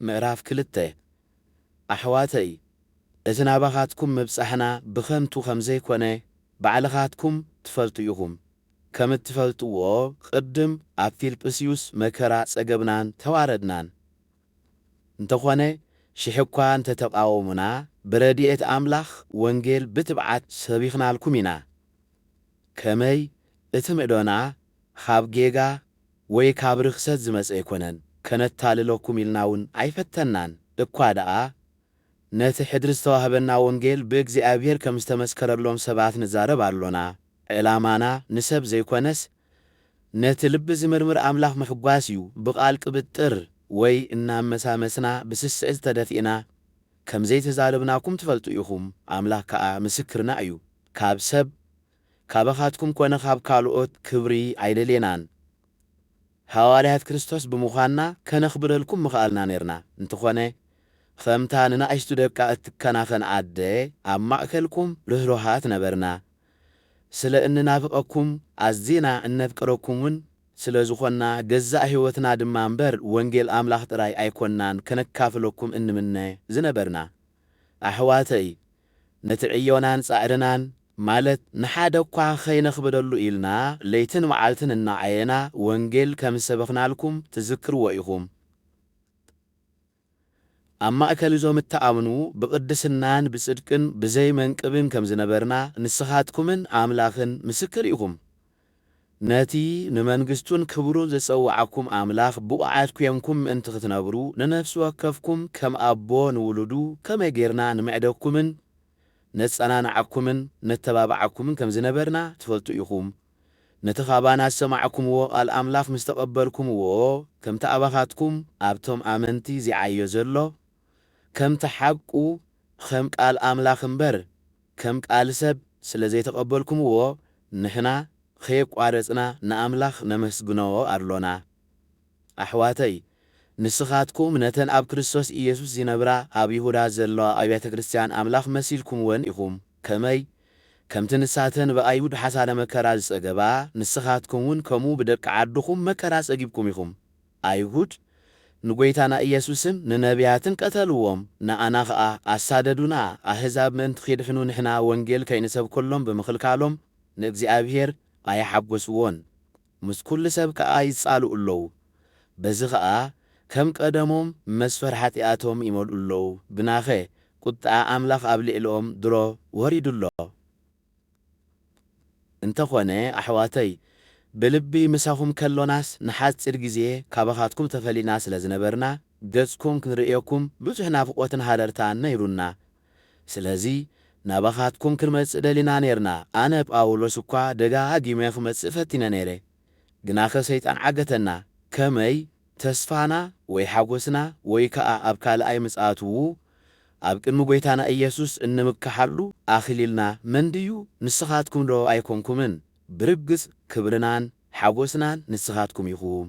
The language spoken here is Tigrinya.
ምዕራፍ ክልተ፣ ኣሕዋተይ፣ እቲ ናባኻትኩም ምብጻሕና ብኸንቱ ኸም ዘይኰነ ባዕልኻትኩም ትፈልጡ ኢኹም። ከም እትፈልጥዎ፣ ቕድም ኣብ ፊልጵስዩስ መከራ ጸገብናን ተዋረድናን። እንተዀነ፣ ሽሕ እኳ እንተ ተቓወሙና፣ ብረድኤት ኣምላኽ ወንጌል ብትብዓት ሰቢኽናልኩም ኢና። ከመይ፣ እቲ ምዕዶና ኻብ ጌጋ ወይ ካብ ርኽሰት ዝመጸ ኣይኮነን፣ ከነታልለኩም ኢልና ውን ኣይፈተንናን፣ እኳ ደኣ ነቲ ሕድሪ ዝተዋህበና ወንጌል ብእግዚኣብሄር ከም ዝተመስከረሎም ሰባት ንዛረብ ኣሎና፣ ዕላማና ንሰብ ዘይኮነስ ነቲ ልቢ ዝምርምር ኣምላኽ ምሕጓስ እዩ፣ ብቃል ቅብጥር ወይ እናኣመሳመስና ብስስዕት ተደፊእና ከም ዘይተዛረብናኩም ትፈልጡ ኢኹም፣ ኣምላኽ ከኣ ምስክርና እዩ፣ ካብ ሰብ ካባኻትኩም ኮነ ካብ ካልኦት ክብሪ ኣይደሌናን። ሃዋርያት ክርስቶስ ብምዃንና ከነኽብረልኩም ምኸኣልና ኔርና፣ እንተኾነ ኸምታ ንናእሽቱ ደቃ እትከናኸን ኣደ ኣብ ማእከልኩም ርህሩሃት ነበርና። ስለ እንናፍቐኩም ኣዚና እነፍቅረኩምን ስለ ዝኾንና ገዛእ ሕይወትና ድማ እምበር ወንጌል ኣምላኽ ጥራይ ኣይኮንናን ከነካፍለኩም እንምነ ዝነበርና። ኣሕዋተይ ነቲ ዕዮናን ጻዕርናን ማለት ንሓደ እኳ ከይነኽብደሉ ኢልና ለይትን መዓልትን እናዓየና ወንጌል ከም ዝሰበኽናልኩም ትዝክርዎ ኢኹም። ኣብ ማእከል እዞም እትኣምኑ ብቕድስናን ብጽድቅን ብዘይ መንቅብን ከም ዝነበርና ንስኻትኩምን ኣምላኽን ምስክር ኢኹም። ነቲ ንመንግስቱን ክብሩን ዝጸውዓኩም ኣምላኽ ብቑዓት ኴንኩም ምእንቲ ክትነብሩ፣ ንነፍሲ ወከፍኩም ከም ኣቦ ንውሉዱ ከመይ ጌርና ንምዕደኩምን ነጸናንዓኩምን ነተባብዓኩምን ከም ዝነበርና ትፈልጡ ኢኹም። ነቲ ካባና ዝሰማዕኩምዎ ቓል ኣምላኽ ምስ ተቐበልኩምዎ፣ ከምቲ ኣባኻትኩም ኣብቶም ኣመንቲ ዚዓዮ ዘሎ ከምቲ ሓቁ ኸም ቃል ኣምላኽ እምበር ከም ቃል ሰብ ስለ ዘይተቐበልኩምዎ ንሕና ኸየቋረጽና ንኣምላኽ ነመስግኖ ኣሎና። ኣሕዋተይ ንስኻትኩም ነተን ኣብ ክርስቶስ ኢየሱስ ዚነብራ ኣብ ይሁዳ ዘለዋ ኣብያተ ክርስትያን ኣምላኽ መሲልኩምወን ኢኹም። ከመይ ከምቲ ንሳተን ብኣይሁድ ሓሳረ መከራ ዝጸገባ ንስኻትኩምውን ከምኡ ብደቂ ዓድኹም መከራ ጸጊብኩም ኢኹም። ኣይሁድ ንጐይታና ኢየሱስን ንነብያትን ቀተልዎም፣ ንኣና ኸኣ ኣሳደዱና፣ ኣህዛብ ምእንቲ ኺድሕኑ ንሕና ወንጌል ከይንሰብከሎም ብምኽልካሎም ንእግዚኣብሄር ኣይሓጐስዎን፣ ምስ ኵሉ ሰብ ከኣ ይጻልኡ ኣለዉ፣ በዚ ኸኣ ከም ቀደሞም መስፈር ሓጢኣቶም ይመልኡ ኣለዉ፣ ግናኸ ቍጥዓ ኣምላኽ ኣብ ልዕሊኦም ድሮ ወሪዱ ኣሎ። እንተኾነ ኣሕዋተይ ብልቢ ምሳኹም ከሎናስ ንሓጺር ግዜ ካባኻትኩም ተፈሊና ስለ ዝነበርና ገጽኩም ክንርእየኩም ብዙሕ ናፍቖትን ሃረርታን ነይሩና ስለዚ ናባኻትኩም ክንመጽእ ደሊና ኔርና ኣነ ጳውሎስ እኳ ደጋጊመ ክመጽእ ፈቲነ ነይረ ግናኸ ሰይጣን ዓገተና፣ ከመይ ተስፋና ወይ ሓጐስና ወይ ከኣ ኣብ ካልኣይ ምጽኣትዉ ኣብ ቅድሚ ጐይታና ኢየሱስ እንምከሓሉ ኣኽሊልና መንድዩ ንስኻትኩምዶ ኣይኮንኩምን? ብርግጽ ክብርናን ሓጐስናን ንስኻትኩም ኢኹም።